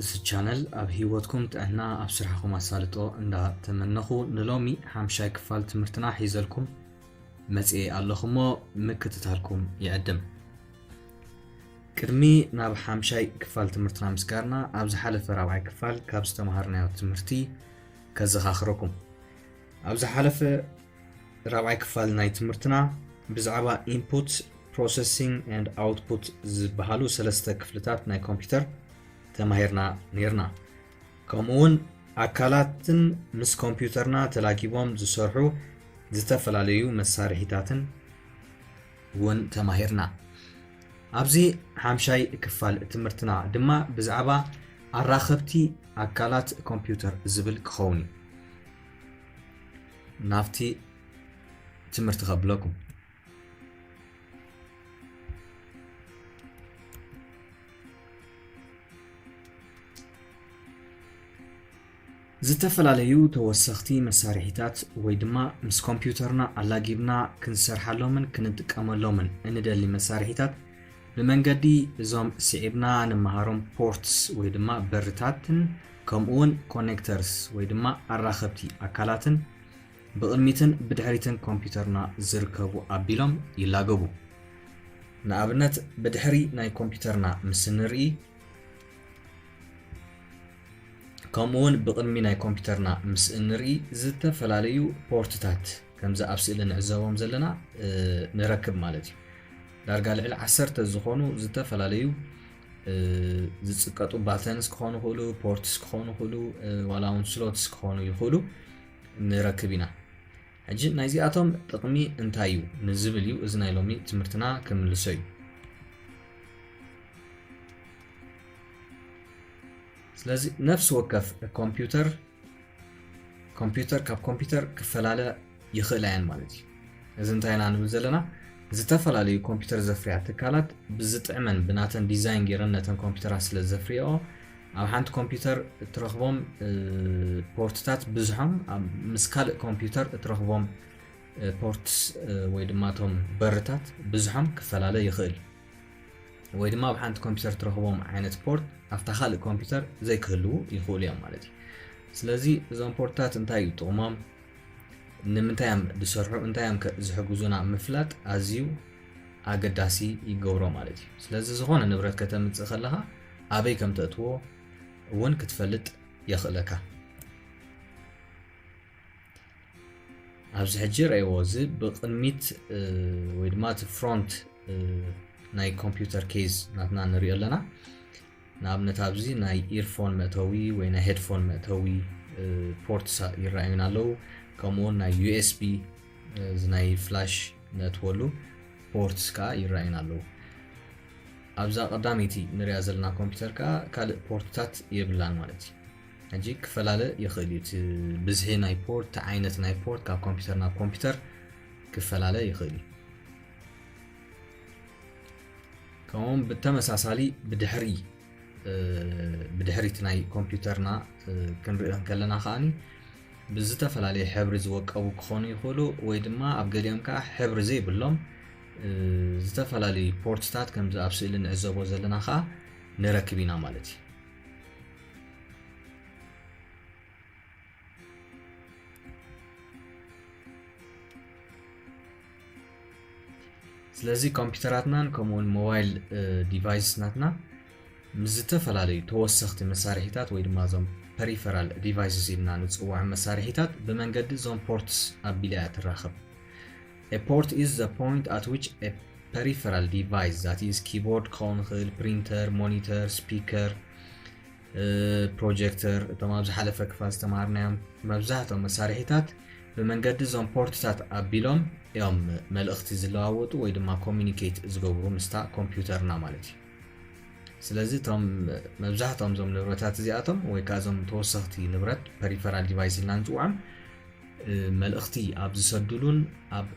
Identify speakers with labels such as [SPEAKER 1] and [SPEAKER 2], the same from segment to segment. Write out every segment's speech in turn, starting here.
[SPEAKER 1] እዚ ቻነል ኣብ ሂወትኩም ጥዕና ኣብ ስራሕኹም ኣሳልጦ እንዳ ተመነኹ ንሎሚ ሓምሻይ ክፋል ትምህርትና ሒዘልኩም መጽኤ ኣለኹ እሞ ምክትታልኩም ይዕድም ቅድሚ ናብ ሓምሻይ ክፋል ትምህርትና ምስጋርና ኣብ ዝሓለፈ ራብዓይ ክፋል ካብ ዝተምሃርናዮ ትምህርቲ ከዘኻኽረኩም ኣብ ዝሓለፈ ራብዓይ ክፋል ናይ ትምህርትና ብዛዕባ ኢንፑት ፕሮሰሲንግ ኣንድ ኣውትፑት ዝበሃሉ ሰለስተ ክፍልታት ናይ ኮምፒውተር ተማሂርና ነርና ከምኡ ውን ኣካላትን ምስ ኮምፒውተርና ተላጊቦም ዝሰርሑ ዝተፈላለዩ መሳርሒታትን እውን ተማሂርና ኣብዚ ሓምሻይ ክፋል ትምህርትና ድማ ብዛዕባ ኣራኸብቲ ኣካላት ኮምፒውተር ዝብል ክኸውን እዩ ናፍቲ ትምህርቲ ከብለኩም ዝተፈላለዩ ተወሰኽቲ መሳርሒታት ወይ ድማ ምስ ኮምፒውተርና ኣላጊብና ክንሰርሓሎምን ክንጥቀመሎምን እንደሊ መሳርሒታት ብመንገዲ እዞም ስዒብና ንመሃሮም ፖርትስ ወይ ድማ በርታትን ከምኡውን ኮኔክተርስ ወይ ድማ ኣራኸብቲ ኣካላትን ብቕድሚትን ብድሕሪትን ኮምፒዩተርና ዝርከቡ ኣቢሎም ይላገቡ። ንኣብነት ብድሕሪ ናይ ኮምፒዩተርና ምስ እንርኢ ከምኡውን ብቕድሚ ናይ ኮምፒዩተርና ምስ እንርኢ ዝተፈላለዩ ፖርትታት ከምዚ ኣብ ስእሊ ንዕዘቦም ዘለና ንረክብ ማለት እዩ ዳርጋ ልዕሊ ዓሰርተ ዝኾኑ ዝተፈላለዩ ዝፅቀጡ ባተንስ ክኾኑ ይኽእሉ ፖርትስ ክኾኑ ይኽእሉ ዋላ እውን ስሎትስ ክኾኑ ይኽእሉ ንረክብ ኢና ሕጂ ናይዚኣቶም ጥቕሚ እንታይ እዩ ንዝብል እዩ እዚ ናይ ሎሚ ትምህርትና ክምልሶ እዩ ስለዚ ነፍሲ ወከፍ ኮምፒውተር ኮምፒተር ካብ ኮምፒተር ክፈላለ ይኽእላ እየን ማለት እዩ። እዚ እንታይ ኢና ንብል ዘለና ዝተፈላለዩ ኮምፒተር ዘፍርያ ትካላት ብዝጥዕመን ብናተን ዲዛይን ገይረን ነተን ኮምፒተራት ስለ ዘፍርየኦ ኣብ ሓንቲ ኮምፒተር እትረኽቦም ፖርትታት ብዙሖም ምስ ካልእ ኮምፒተር እትረኽቦም ፖርትስ ወይ ድማ እቶም በርታት ብዙሖም ክፈላለ ይኽእል ወይ ድማ ኣብ ሓንቲ ኮምፒውተር ትረኽቦም ዓይነት ፖርት ኣብታ ካልእ ኮምፒውተር ዘይክህልዉ ይኽእሉ እዮም ማለት እዩ ስለዚ እዞም ፖርትታት እንታይ እዩ ጥቕሞም ንምንታይ እዮም ዝሰርሑ እንታይ እዮም ዝሕግዙና ምፍላጥ ኣዝዩ ኣገዳሲ ይገብሮ ማለት እዩ ስለዚ ዝኾነ ንብረት ከተምፅእ ከለኻ ኣበይ ከም ተእትዎ እውን ክትፈልጥ የኽእለካ ኣብዚ ሕጂ ረእይዎ እዚ ብቕድሚት ወይ ድማ እቲ ፍሮንት ናይ ኮምፒውተር ኬዝ ናትና ንሪኦ ኣለና ንኣብነት ኣብዚ ናይ ኢርፎን መእተዊ ወይ ናይ ሄድፎን መእተዊ ፖርት ይረኣዩና ኣለዉ ከምኡውን ናይ ዩኤስቢ እዚ ናይ ፍላሽ ነእትወሉ ፖርትስ ከዓ ይረኣዩና ኣለዉ ኣብዛ ቀዳመይቲ ንሪያ ዘለና ኮምፒውተር ከዓ ካልእ ፖርትታት የብላን ማለት እዩ ሕጂ ክፈላለ ይኽእል እዩ እቲ ብዝሒ ናይ ፖርት እቲ ዓይነት ናይ ፖርት ካብ ኮምፒውተር ናብ ኮምፒውተር ክፈላለ ይኽእል እዩ ከምኡውን ብተመሳሳሊ ብድሕሪ ብድሕሪቲ ናይ ኮምፒውተርና ክንሪኦ ከለና ከዓኒ ብዝተፈላለየ ሕብሪ ዝወቀቡ ክኾኑ ይኽእሉ ወይ ድማ ኣብ ገሊኦም ከዓ ሕብሪ ዘይብሎም ዝተፈላለዩ ፖርትታት ከምዚ ኣብ ስእሊ ንዕዘቦ ዘለና ከዓ ንረክብ ኢና ማለት እዩ ስለዚ ኮምፒውተራትናን ከምኡውን ሞባይል ዲቫይስናትና ምስ ዝተፈላለዩ ተወሰኽቲ መሳርሒታት ወይ ድማ እዞም ፐሪፈራል ዲቫይስስ ኢልና ንፅውዖም መሳርሒታት ብመንገዲ እዞም ፖርትስ ኣቢላ እያ ትራኸብ A port is the point at which a peripheral device that is keyboard ክኸውን ይኽእል ፕሪንተር ሞኒተር ስፒከር ፕሮጀክተር እቶም ኣብ ዝሓለፈ ክፋል ዝተምሃርናዮም መብዛሕትኦም መሳርሒታት ብመንገዲ እዞም ፖርትታት ኣቢሎም እዮም መልእኽቲ ዝለዋወጡ ወይ ድማ ኮሚኒኬት ዝገብሩ ምስታ ኮምፒውተርና ማለት እዩ ስለዚ እቶም መብዛሕትኦም እዞም ንብረታት እዚኣቶም ወይ ከዓ እዞም ተወሰኽቲ ንብረት ፐሪፈራል ዲቫይስ ኢልና ንፅውዖም መልእኽቲ ኣብ ዝሰድሉን ኣብ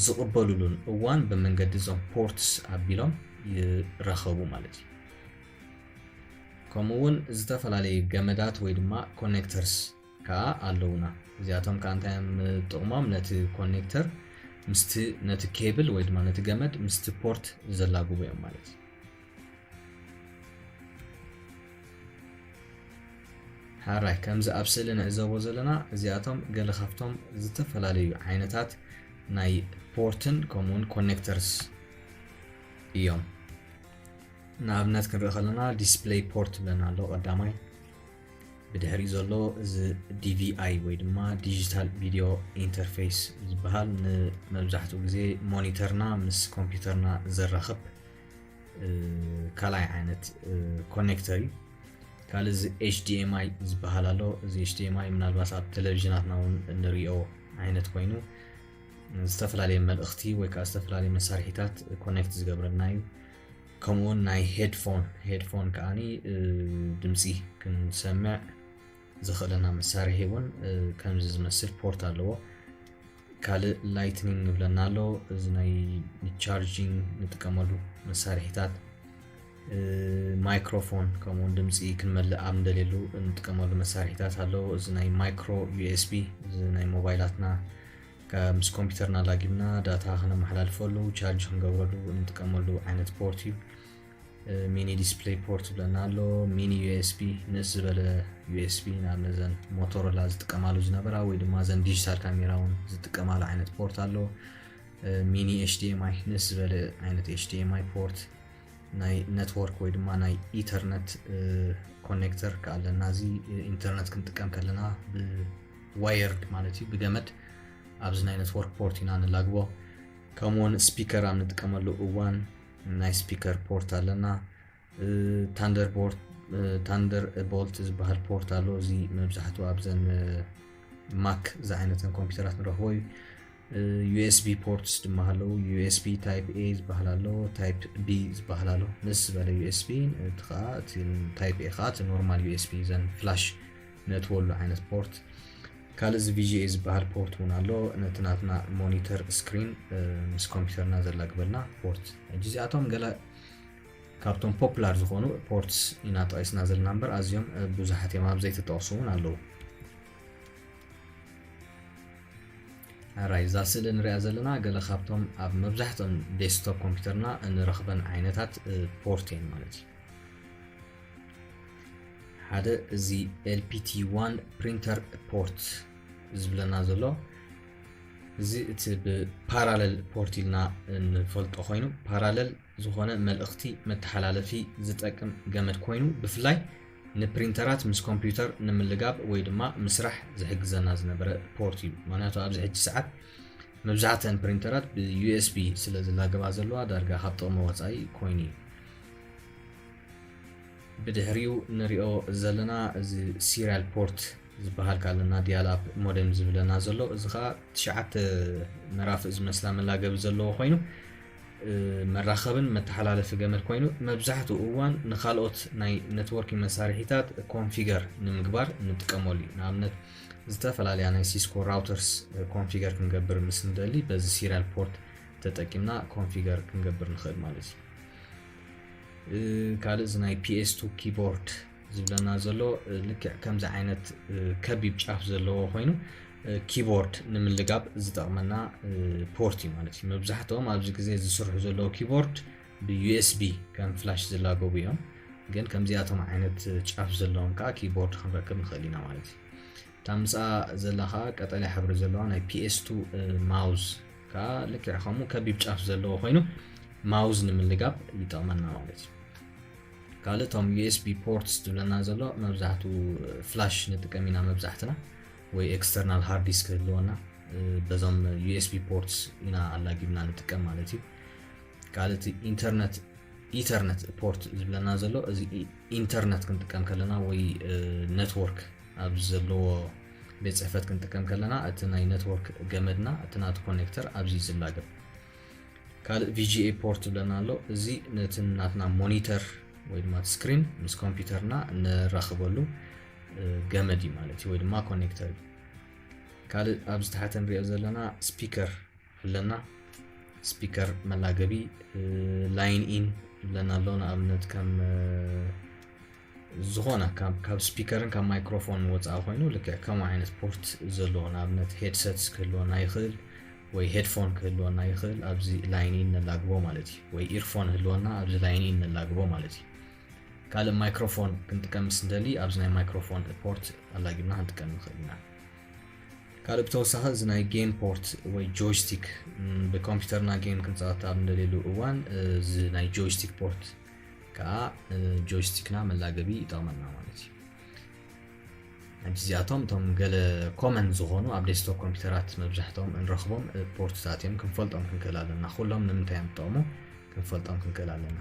[SPEAKER 1] ዝቕበሉሉን እዋን ብመንገዲ እዞም ፖርትስ ኣቢሎም ይረኸቡ ማለት እዩ ከምኡ እውን ዝተፈላለዩ ገመዳት ወይ ድማ ኮኔክተርስ ከዓ ኣለውና እዚኣቶም ከዓ እንታይ እዮም ጥቕሞም ነቲ ኮኔክተር ምስቲ ነቲ ኬብል ወይ ድማ ነቲ ገመድ ምስቲ ፖርት ዘላግቡ እዮም ማለት እዩ ሐራይ ከምዚ ኣብ ስእሊ ንዕዘቦ ዘለና እዚኣቶም ገለ ካብቶም ዝተፈላለዩ ዓይነታት ናይ ፖርትን ከምኡውን ኮኔክተርስ እዮም ንኣብነት ክንርኢ ከለና ዲስፕለይ ፖርት ብለና ኣሎ ቀዳማይ ብድሕሪ ዘሎ እዚ ዲቪኣይ ወይ ድማ ዲጂታል ቪድዮ ኢንተርፌስ ዝበሃል ንመብዛሕትኡ ግዜ ሞኒተርና ምስ ኮምፒውተርና ዘራኽብ ካልኣይ ዓይነት ኮኔክተር እዩ ካልእ እዚ ኤችዲኤምኣይ ዝበሃል ኣሎ እዚ ኤችዲኤምኣይ ምናልባት ኣብ ቴሌቭዥናትና እውን እንሪኦ ዓይነት ኮይኑ ዝተፈላለየ መልእኽቲ ወይ ከዓ ዝተፈላለየ መሳርሒታት ኮኔክት ዝገብረልና እዩ ከምኡውን ናይ ሄድፎን ሄድፎን ከዓኒ ድምፂ ክንሰምዕ ዘኽእለና መሳርሒ እውን ከምዚ ዝመስል ፖርት ኣለዎ ካልእ ላይትኒንግ ንብለና ኣሎ እዚ ናይ ቻርጂንግ ንጥቀመሉ መሳርሒታት ማይክሮፎን ከምኡውን ድምፂ ክንመልእ ኣብ ንደልየሉ እንጥቀመሉ መሳርሒታት ኣለዎ እዚ ናይ ማይክሮ ዩኤስቢ እዚ ናይ ሞባይላትና ምስ ኮምፒውተርና ላጊብና ዳታ ክነመሓላልፈሉ ቻርጅ ክንገብረሉ እንጥቀመሉ ዓይነት ፖርት እዩ ሚኒ ዲስፕሌይ ፖርት ዝብለና ኣሎ ሚኒ ዩኤስቢ ንእስ ዝበለ ዩኤስቢ ናብ ነዘን ሞቶሮላ ዝጥቀማሉ ዝነበራ ወይ ድማ ዘን ዲጂታል ካሜራ እውን ዝጥቀማሉ ዓይነት ፖርት ኣሎ ሚኒ ኤችዲኤምኣይ ንእስ ዝበለ ዓይነት ኤችዲኤምኣይ ፖርት ናይ ነትወርክ ወይ ድማ ናይ ኢንተርነት ኮኔክተር ከዓ ኣለና እዚ ኢንተርነት ክንጥቀም ከለና ብዋየርድ ማለት እዩ ብገመድ ኣብዚ ናይ ነትወርክ ፖርት ኢና ንላግቦ ከምኡውን ስፒከር ኣብ ንጥቀመሉ እዋን ናይ ስፒከር ፖርት ኣለና ታንደር ታንደር ቦልት ዝበሃል ፖርት ኣሎ እዚ መብዛሕትኡ ኣብዘን ማክ ዝዓይነተን ኮምፒውተራት ንረኽቦ እዩ ዩኤስቢ ፖርትስ ድማ ኣለዉ ዩኤስቢ ታይፕ ኤ ዝበሃል ኣሎ ታይፕ ቢ ዝበሃል ኣሎ ምስ ዝበለ ዩኤስቢ እቲ ከዓ እቲ ታይፕ ኤ ከዓ እቲ ኖርማል ዩኤስቢ ዘን ፍላሽ ነእትወሉ ዓይነት ፖርት ካልእ እዚ ቪጂኤ ዝበሃል ፖርት እውን ኣሎ ነቲ ናትና ሞኒተር ስክሪን ምስ ኮምፒውተርና ዘላግበልና ፖርት ሕጂ እዚኣቶም ገለ ካብቶም ፖፕላር ዝኾኑ ፖርትስ ኢና ጠቂስና ዘለና እምበር ኣዝዮም ብዙሓት እዮም ኣብ ዘይተጠቕሱ እውን ኣለዉ ራይ እዛ ስእሊ ንሪኣ ዘለና ገለ ካብቶም ኣብ መብዛሕትኦም ዴስክቶፕ ኮምፒውተርና እንረኽበን ዓይነታት ፖርት እየን ማለት እዩ ሓደ እዚ ኤልፒቲ ዋን ፕሪንተር ፖርት ዝብለና ዘሎ እዚ እቲ ብፓራለል ፖርት ኢልና ንፈልጦ ኮይኑ ፓራለል ዝኾነ መልእኽቲ መተሓላለፊ ዝጠቅም ገመድ ኮይኑ ብፍላይ ንፕሪንተራት ምስ ኮምፒውተር ንምልጋብ ወይ ድማ ምስራሕ ዝሕግዘና ዝነበረ ፖርት እዩ ምክንያቱ ኣብዚ ሕጂ ሰዓት መብዛሕተን ፕሪንተራት ብዩኤስቢ ስለ ዝላገባ ዘለዋ ዳርጋ ካብ ጥቕሚ ወፃኢ ኮይኑ እዩ ብድሕሪኡ ንሪኦ ዘለና እዚ ሲሪያል ፖርት ዝበሃል ካለና ዲያላፕ ሞደም ዝብለና ዘሎ እዚ ከዓ ትሽዓተ ምዕራፍ ዝመስላ መላገቢ ዘለዎ ኮይኑ መራኸብን መተሓላለፊ ገመድ ኮይኑ መብዛሕትኡ እዋን ንካልኦት ናይ ነትወርኪ መሳርሒታት ኮንፊገር ንምግባር ንጥቀመሉ እዩ ንኣብነት ዝተፈላለያ ናይ ሲስኮ ራውተርስ ኮንፊገር ክንገብር ምስ ንደሊ በዚ ሲሪያል ፖርት ተጠቂምና ኮንፊገር ክንገብር ንኽእል ማለት እዩ ካልእ እዚ ናይ ፒኤስ ቱ ኪቦርድ ዝብለና ዘሎ ልክዕ ከምዚ ዓይነት ከቢብ ጫፍ ዘለዎ ኮይኑ ኪቦርድ ንምልጋብ ዝጠቕመና ፖርት እዩ ማለት እዩ መብዛሕትኦም ኣብዚ ግዜ ዝስርሑ ዘለዎ ኪቦርድ ብዩኤስቢ ከም ፍላሽ ዝላገቡ እዮም ግን ከምዚኣቶም ዓይነት ጫፍ ዘለዎም ከዓ ኪቦርድ ክንረክብ ንኽእል ኢና ማለት እዩ እታ ምስኣ ዘላ ከኣ ቀጠልያ ሕብሪ ዘለዋ ናይ PS2 ማውዝ ከኣ ልክዕ ከምኡ ከቢብ ጫፍ ዘለዎ ኮይኑ ማውዝ ንምልጋብ ይጠቕመና ማለት እዩ። ካልእ እቶም ዩኤስቢ ፖርትስ ዝብለና ዘሎ መብዛሕቱ ፍላሽ ንጥቀም ኢና መብዛሕትና ወይ ኤክስተርናል ሃርድ ዲስክ ህልወና በዞም ዩኤስቢ ፖርትስ ኢና ኣላጊብና ንጥቀም ማለት እዩ ካልእ እቲ ኢንተርነት ኢተርነት ፖርት ዝብለና ዘሎ እዚ ኢንተርነት ክንጥቀም ከለና ወይ ኔትወርክ ኣብ ዘለዎ ቤት ጽሕፈት ክንጥቀም ከለና እቲ ናይ ነትወርክ ገመድና እቲ ናቱ ኮኔክተር ኣብዚ ዝላገብ ካልእ ቪጂኤ ፖርት ብለና ኣሎ እዚ ነቲ ናትና ሞኒተር ወይ ድማ ስክሪን ምስ ኮምፒውተርና ንራኽበሉ ገመድ እዩ ማለት እዩ ወይ ድማ ኮኔክተር እዩ ካልእ ኣብ ዝተሓተ ንሪኦ ዘለና ስፒከር ኣለና ስፒከር መላገቢ ላይን ኢን ብለና ኣሎ ንኣብነት ከም ዝኾነ ካብ ካብ ስፒከርን ካብ ማይክሮፎንን ወፃኢ ኮይኑ ልክዕ ከምኡ ዓይነት ፖርት ዘለዎ ንኣብነት ሄድሰትስ ክህልወና ይኽእል ወይ ሄድፎን ክህልወና ይኽእል ኣብዚ ላይን ኢ ነላግቦ ማለት እዩ ወይ ኢርፎን ህልወና ኣብዚ ላይን ኢ ነላግቦ ማለት እዩ ካልእ ማይክሮፎን ክንጥቀም ምስ እንደሊ ኣብዚ ናይ ማይክሮፎን ፖርት ኣላጊብና ክንጥቀም ንኽእል ኢና ካልእ ብተወሳኺ እዚ ናይ ጌም ፖርት ወይ ጆይስቲክ ብኮምፒውተርና ጌም ክንፃወት ኣብ እንደልየሉ እዋን እዚ ናይ ጆይስቲክ ፖርት ከኣ ጆይስቲክና መላገቢ ይጠቕመና ማለት እዩ ሕጂ እዚኣቶም እቶም ገለ ኮመን ዝኾኑ ኣብ ዴስክቶፕ ኮምፒውተራት መብዛሕትኦም እንረኽቦም ፖርትታት እዮም ክንፈልጦም ክንክእል ኣለና ኩሎም ንምንታይ እዮም ዝጠቕሙ ክንፈልጦም ክንክእል ኣለና